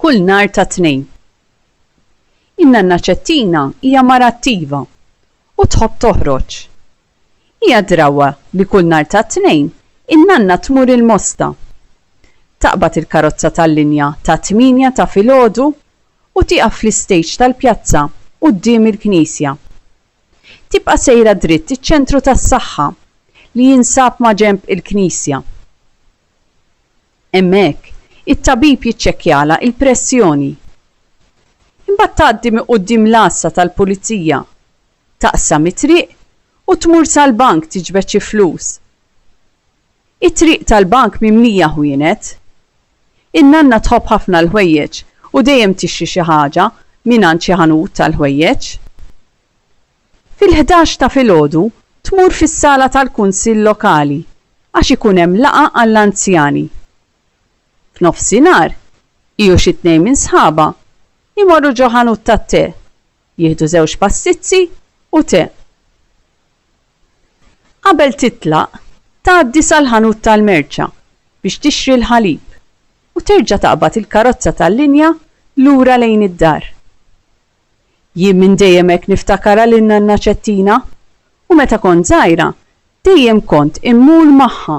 kull nhar tat-Tnejn. In-nanna Ċettina hija mara attiva u tħobb toħroġ. Hija drawwa li kull nhar tat-Tnejn in-nanna tmur il-Mosta. Taqbad il-karozza tal-linja tat-tmienja ta' filgħodu u tieqaf fl-istejġ tal-pjazza quddiem il-knisja. Tibqa' sejra dritt iċ-Ċentru tas-Saħħa li jinsab maġenb il-Knisja. Hemmhekk, it-tabib jiċċekkjalha il-pressjoni. Imbagħad tgħaddi minn quddiem l-għassa tal-pulizija, taqsam it-triq u tmur sal-bank tiġbed xi flus. It-triq tal-bank mimlija ħwienet In-nanna tħobb ħafna l-ħwejjeġ u dejjem tixtri xi ħaġa mingħand xi ħanut tal-ħwejjeġ. Fil-ħdax ta' filgħodu tmur fis-sala tal-kunsill lokali għax ikun hemm laqgħa għall-anzjani. F'nofsinhar, hi u xi tnejn minn sħabha jmorru ġo ħanut tat-te Jieħdu żewġ passizzi u te. Qabel titlaq, tgħaddi sal-ħanut tal-merċa biex tixtri l-ħalib u terġa' taqbad il-karozza tal-linja lura lejn id-dar. Jien minn dejjem hekk niftakarha lil Nanna Ċettina u meta kont żgħira dejjem kont immur magħha.